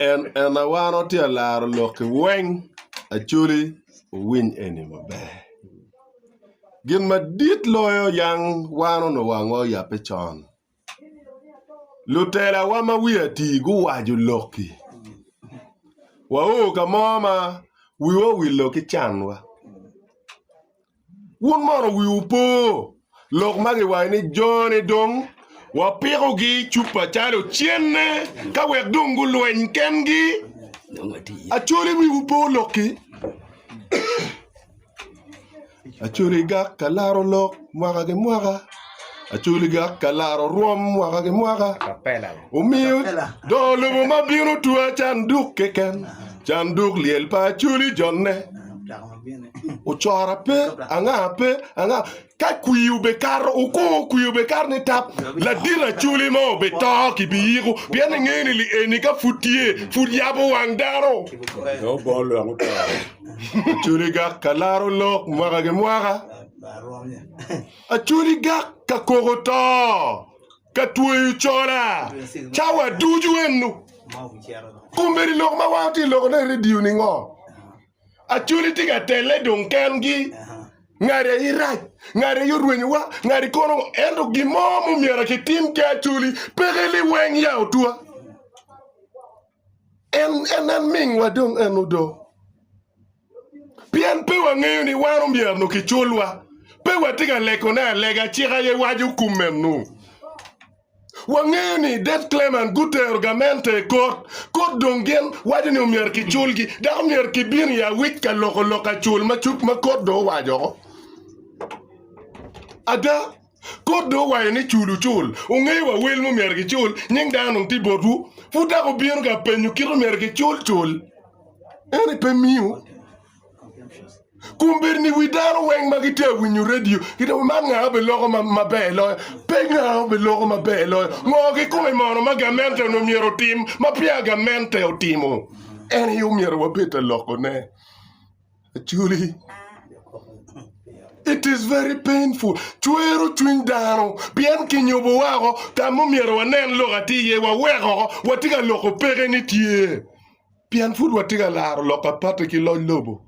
En en awano tye alaro lok ki weng acoli owiny eni maber. Gin madit loyo yang wano no wangwa oyape con. Lutela wa ma wi ati guwajo loki. Wa o ka mo ma wiwa owilo ki can wa. Wun mono wiwu po lok ma giwaco ni jone dong wapikogi i cupa calo cenne ka wek dong gulweny kengi. Acholi wiwu po lokki. Acholi gak ka laro lok mwaka ki mwaka. Acholi gak ka laro rwom mwaka ki mwaka. Omiyo dong lobo ma bino twa canduk keken, canduk lyel pa acholi jonne. Ocora pe, anga pe, anga. Ka kwi obekato, oko kwi obekato ni tap, ladit aculi mo obeto ki pi yiko, pien engeyo ni li eni ka pud tye, pud yabo wang dano. Aculi gak ka laro lok mwaka ki mwaka, aculi gak ka koko to, ka tweyo cola, cawa ducu eno. Kombeddi lok ma wan watye loko ne i redio ni ngo? Acholi tye ka telle dong kengi. Ngati aye rac, ngati aye orwenyowa, ngati kono ngo. Ento gin mo ma omyero kitim ki Acholi peke liweng ya otwa. En en en mingwa dong en odo. Pien pe wangeyo ni wan omyero nongo kiculwa. Pe watye ka legone alega cik aye waco kum meno. Wangeyo ni Dave Clement gutero gamente i kot, kot dong gin waco ni omyero kiculgi dok omyero kibin i awic ka loko lok acul ma cuk ma kot dong owaco oko. Ada, kot dong owaco ni cul wucul, wungeyo wa wel ma omyero gicul, nying dano dong tye botwu, pud dok wubino ka penyo kit omyero gicul cul eni pe miu. Kombeddi ni wi dano weng ma gitye ka winyo redio gitye ka man nga obedo loko maber loyo. Pe nga obedo loko maber loyo. Ngo kikome mono ma gamente onongo myero otim ma peya gamente otimo? En aye omyero wabed ka lokone. Actually, it is very painful. Cwero cwiny dano pien kinyubo wako ka ma omyero wanen lok atir iye waweko watye ka loko peke ni tye. Pien pud watye ka laro lok a patte ki loc lobo.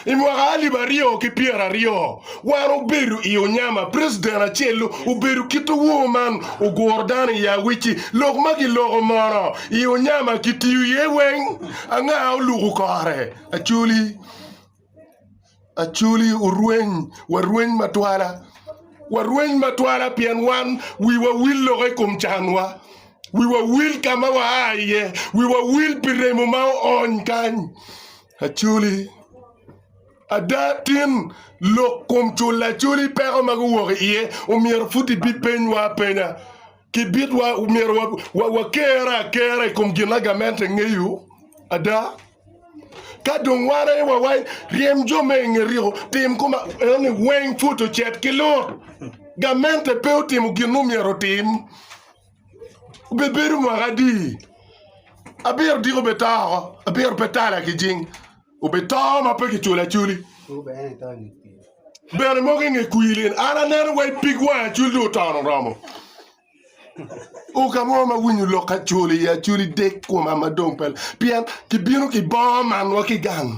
I mwaka alip aryo ki pyera aryo, wan obedo i onyama, president acel obedo kit owor man oguro dano i awic-ci. Lok ma kiloko mono i onyama kitiyo iye weng? Anga oluko kore? Acholi. Acholi orweny, warweny matwala, warweny matwala pien wan wiwa wil loko i kom canwa, wiwa wil ka ma waa iye, wiwa wil pi remo ma oony kany. Acholi, ada tin lok kom culo Acholi peko ma guwok iye omyero pud ibipenywa apenya. Kibit wa myero wa, wa, wakerre akera i kom gin agamente ngeyo ada. Ka dong wan aye wa, wa ryem jo me inge riko, tim kuma eni weng put ocet ki lut. Gamente pe otimo gin myero otim. Bebedo mwaka adi? Abiro diko betao, abiro pe tala ki jing. obito ma pe kiculo aculi. Bene mogo i nge kwir lin an aneno wa i pig wang acul dong otono oromo. Uka mo ma winyo lok acul i aculi dek koma ma dong pe pien kibino ki bongo man wa ki gang.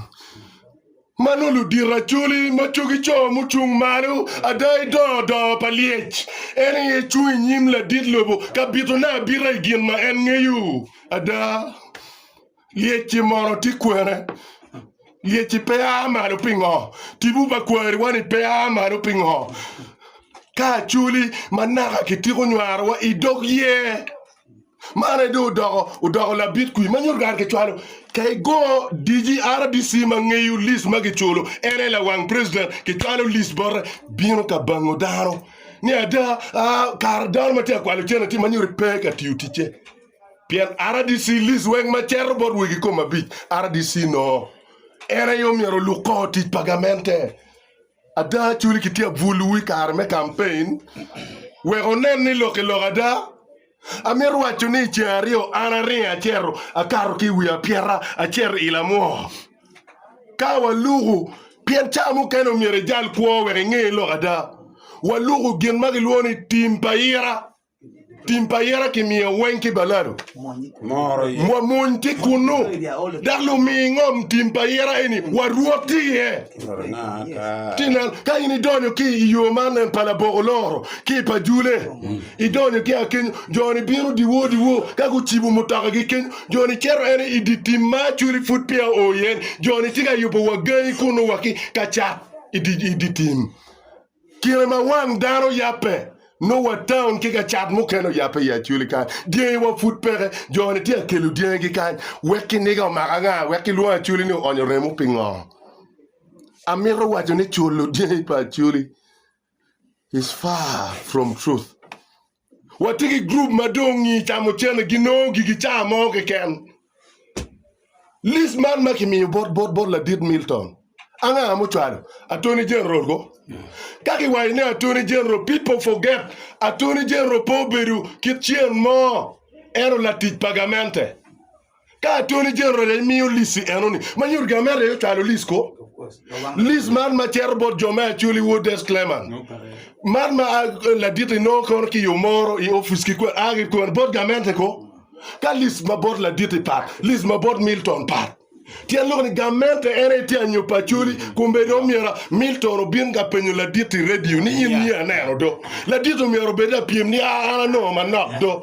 Ma nongo ludito aculi ma cogi co mucung malo ada i dongo dongo pa lyec en aye cung i nyim ladit lobo ka bitone abita i gin ma en ngeyo ada. Lyecci mono tye kwene? Lyecci pe a malo pingo? Tipo pa kwariwa-ni pe a malo pingo? Ka aculi ma naka kitiko nywarowa i dog yer, man aye dong odoko labit kwi ma nyuto kare kicwalo. Ka igo digi RDC ma ngeyo list ma kiculo, en aye lawang president, kicwalo list bote, bino ka bango dano ni ada, kare dano ma tye ka kwalo cente-ni tye ma nyuto pe ka tiyo ticce. Pien RDC list weng ma ceto bot wegi kom abic RDC no en aye omyero oluk kor tic pa gamente. Ada Acholi ki tye abwol wu i kare me campaign wek wunen ni lok ki lok ada. Amito waco ni i ceng aryo an aringo aceto akato ki i wi apyeta aceto ila mwoko. Ka waluku pien ca mukene omyero ijal kwo wek inge lok ada. Waluku gin ma gilwongo ni tim pa ira. Tim pa yera kimiyo weng ki balado. Wamony ki kunu, dok lumi ingom tim pa yera eni warwot ki iye. Tinen, ka in idonyo ki i yo man nen pa laboko loro ki i pa jule, idonyo ki a kenyo, jo-ni bino diwo diwo ka gucibo mutoka gi kenyo, jo-ni cito ene i di tim ma acweli pud peya oo iye-ni, jo-ni ci ka yubo wa gangi kunu wa ki ka cat i di tim. Kine ma wang dano yabbe, nongo taun ki gacat mukene oyabbe i Acoli kany. Dyangi wa pud peke. Jo-ni tye ka kelo dyangi kany wek kiniga omak anga wek kilwongo Acoli ni oonyo remo? Pingo? Amito waco ni culo dyangi pa Acoli is far from truth. Watye ki grup ma dong i camucene ginongo gigi cawa mo keken. Lis man ma kimiyo bot bot bot Ladit Milton, anga ma ocwalo? Attorney General ko. Ka kiwaco ni Attorney General, people forget Attorney General pe obedo kit cen mo, en o latic pa gamente. Ka Attorney General aye miyo lic-ci enoni, ma nyuto gin ameri aye ocwalo lic ko. Lic man ma cito bot jo me Acholi Ward Disclaimer man ma a ladit inongo kono ki yo moro i opic ki kwen a ki kwen bot gamente ko. Ka lic ma bot laditi pat, lic ma bot Milton pat. Tyen loko ni gamente en aye tye anyo pa Acholi kun bene dong myero Milton obin ka penyo ladit i radio ni in niye aneno do. Ladit-ti myero obed lapyem ni a an anongo manok do.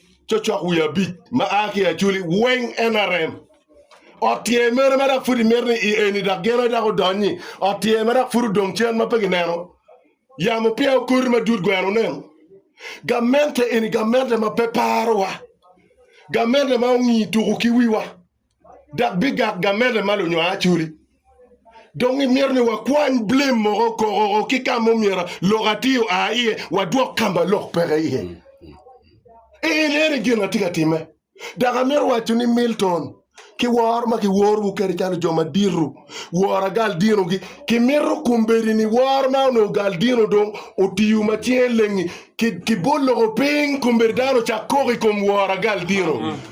Cocok wiye abic ma a ki i Aculi weng NRM. Ot tyer mene ma dok pud imito ni i eni dok gin aye dok odonyi? Ot tyer ma dok pud odong cen ma pe gineno? Yamo peya okoti madut gweno oneno? Gamente eni gamente ma pe parowa? Gamente ma ongi tuku ki wiwa? dok bigak gamete ma lunywar culi. Dong imito ni wakwany blem moko kokoko ki ka mumyero lok atir oa iye wadwok ka ma lok peke iye. En eni gin atye ka timme. Dok amito waco ni Milton ki woro ma kiworowu kede calo jo madito, woro agal dinogi, kimito kombedi ni woro ma onongo gal dino dong otiyo ma cinge lengi ki bot loko piny kombedi dano ocak koko i kom woro agal dino.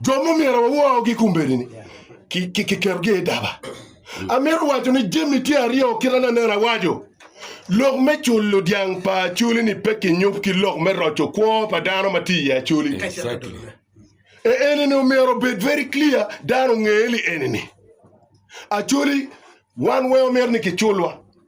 Jo ma omyero wawoogi kombeddi-ni kiketogi i daba. Amito waco ni jami tye aryo kit ma aneno awaco. Lok me culo dyang pa acoli-ni pe kinyup ki lok me roco kwo pa dano ma tye i acoli. Eni omyero obed very clear dano onge ni eni acoli wan weng omyero ni kiculwa.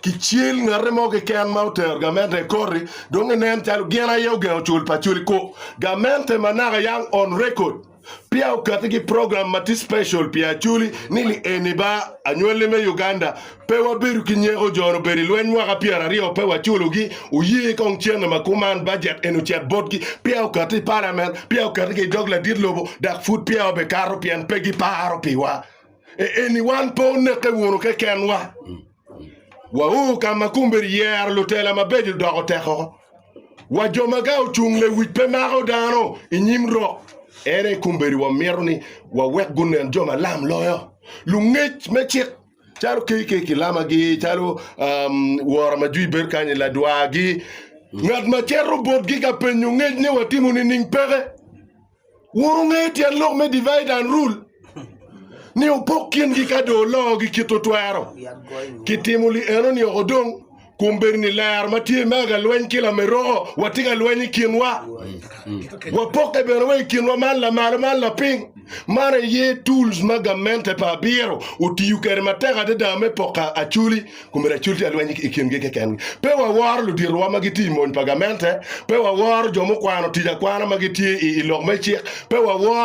Kicel ngate mo keken ma otero gamente i koti dong inen calo gin aye ogengo cul pa cul i kor gamente ma naka yang on record peya okati ki program ma tye special pi Acholi ni li eni ba anywali me Uganda pe wabedo ki nyeko jo ni obedo i lweny mwaka pyera aryo pe waculo gi oye kong cene ma kuman budget eni ocet botgi peya okati i parliament peya okati ki dog ladit lobo dok pud peya wabe kato pien pe gi paro piwa eni wan pe oneke wunu keken wa. Wau ka ma kombeddi yero lutela mabeco doko tekko, wa jo ma ka ocung lewic pe mako dano i nyim rok. En aye kombeddi wamito ni wawek gunen jo malam loyo, lungec me cik, calo KK kilamagi, calo um, wora ma jwi bedo kany i ladwagi, ngat ma cito botgi ka penyo ngec ni watimo nining peke. Wun wungeyo tyen lok me divide and rule, ni opok kingi ka dong oloogi kit otwero. Kitimo li eno nioko dong, kun bedo ni lero ma tye i mega lweny ki lameroko watye ka lweny i kinwa. Wapokke bene wa i kinwa man lamalo man lapiny. Man aye tools ma gamente pa abiro otiyo kwede matek adada me poko acholi Kome lacul tye ka lweny i kingi keken. Pe waworo luditowa ma gitye i mony pa gamente, pe waworo jo mukwano tic akwana ma gitye i lok me cik, pe waworo.